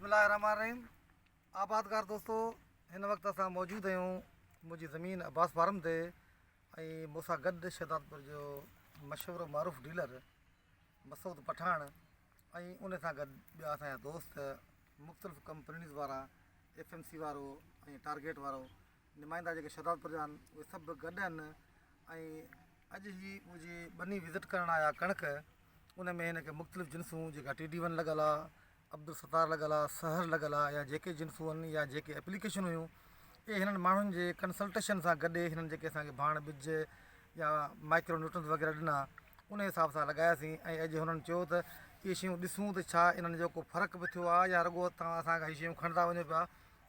بسم الله الرحمن الرحيم آبادگار دوستو هن وقت اسان موجود آهيون منهنجي زمين عباس فارم تي ۽ مون سان گڏ شهدادپور جو مشهور معروف ڊيلر مسعود پٺاڻ ۽ ان سان گڏ ٻيا اسان جا دوست مختلف ڪمپنيز وارا ايف ايم سي وارو ۽ ٽارگيٽ وارو نمائندا جيڪي شھدادپور جا آھن اھي سڀ به گڏ آھن ۽ اڄ ھي منھنجي ٻني وزٽ ڪرڻ آيا ڪڻڪ ان ۾ ھن کي مختلف جنسون جيڪا ٽي ڊي ون لڳل آھي عبدالستار لڳل آھي سحر لڳل آھي يا جيڪي جنسون آھن يا جيڪي اپليڪيشنون ھيون اھي ھنن ماڻھن جي ڪنسلٽيشن سان گڏ ھنن جيڪي اسان کي ڀاڻ ٻج يا مائڪرو نيوٽرنس وغيره ڏنا ان حساب سان لڳاياسين ۽ اڄ ھنن چيو ته اھي شيون ڏسون ته ڇا انھن جو ڪو فرق به ٿيو آھي يا رڳو تھان اسان کان ھي شيون کڻندا وڃو پيا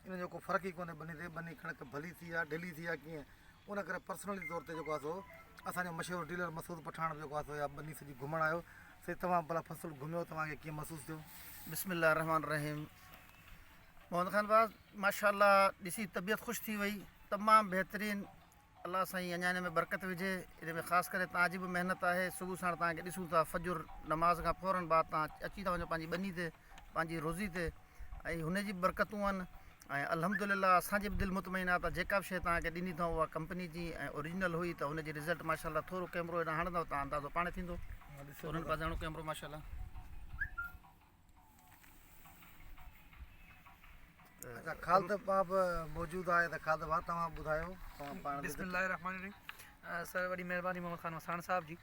ان جو ڪو فرق ئي ڪونهي ٻنهي تي ٻنهي ڪڻڪ ڀلي ٿي يا ڍلي ٿي يا ڪيئن ان ڪري پرسنلي طور تي جيڪو آ سو اسانجو مشهور ڊيلر مسعود پٺاڻ به جيڪو آ سو يا ٻني سڄي گهمڻ آيو سي توهان ڀلا فصل گهميو توهان کي ڪيئن محسوس ٿيو بسم الله الرحمن الرحيم محمد خان باز ماشاء الله ڏسي طبيعت خوش ٿي وئي تمام بهترين الله سائين اڃا ان ۾ برڪت وجهي ان ۾ خاص ڪري توهان جي به محنت آهي صبح ساڻ توهان کي ڏسون ٿا فجر نماز کان فورن بعد توهان اچي ٿا وڃو پنهنجي ٻني تي پنهنجي روزي تي ۽ هن جي به برڪتون آهن ۽ الحمد لله اسان جي به دل مطمئن آهي ته جيڪا به شيء توهان کي ڏني اٿئون اها ڪمپني جي ۽ اوريجنل هئي ته ان جي رزلٽ ماشاء الله ٿورو ڪيمرو هيڏانهن هڻندو ته اندازو پاڻ ٿيندو ٿورو هن پاسي هڻو ڪيمرو ماشاء الله اچا خالد باب موجود آهي ته خالد باب توهان ٻڌايو توهان پاڻ بسم الله الرحمن الرحيم سر وڏي مهرباني محمد خان وساڻ صاحب جي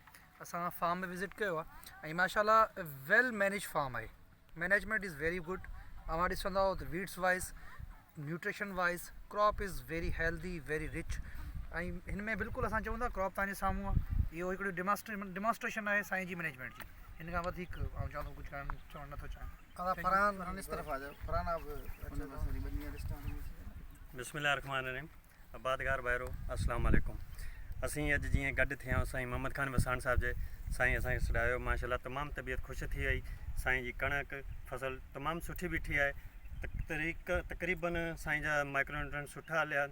اسان فارم ۾ وزٽ ڪيو آهي ۽ ماشاء الله ويل مينيج فارم آهي مينيجمنٽ از ويري گڊ اوهان ڏسندو ته weeds wise nutrition wise crop is very healthy very rich ۽ هن ۾ بلڪل اسان چئون ٿا ڪراپ تنهنجي سامهون آهي اهو هڪڙو ڊيماسٽريشن ڊيماسٽريشن آهي سائين جي مينيجمينٽ جي هن کان وڌيڪ آئون چوندو ڪجهه ڪانه چوڻ نٿو چاهيان فرحان هن طرف آ جاء فرحان آ بسم الله الرحمن الرحيم آبادگار ڀائرو السلام عليڪم اسين اڄ جيئن گڏ ٿيا سائين محمد خان وساڻ صاحب جي سائين اسان کي سڏايو ماشاءالله تمام طبيعت خوش ٿي وئي سائين جي ڪڻڪ فصل تمام سٺي بيٺي آهي تقريق تقريبا سائين جا مائڪرو نيوٽرن سٺا هليا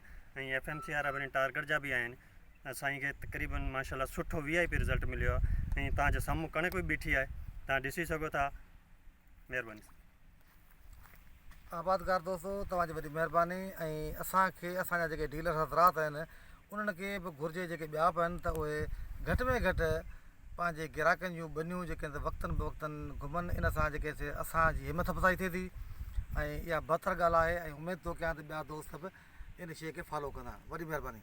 ۽ ايف ايم سي وارا وري ٽارگيٽ جا به آهن سائين کي تقريبا ماشاءالله سٺو وي آئي پي رزلٽ مليو آهي ۽ تان جو سامهون ڪڻڪ به بيٺي آهي تان ڏسي سگهو ٿا مهرباني آبادگار دوستو توهان جي وڏي مهرباني ۽ اسان کي اسان جا جيڪي ڊيلر حضرات آهن انهن کي به گهرجي جيڪي ٻيا به آهن ته اهي گهٽ ۾ گهٽ پنهنجي گراهڪن جون ٻنيون جيڪي آهن وقتاً بوقتاً گهمن ان سان جيڪي سي اسان جي همٿ افزائي ٿئي ٿي ۽ اها بهتر ڳالهه آهي ۽ اميد ٿو ڪيان ته ٻيا دوست به ان شيء کي فالو ڪندا وڏي مهرباني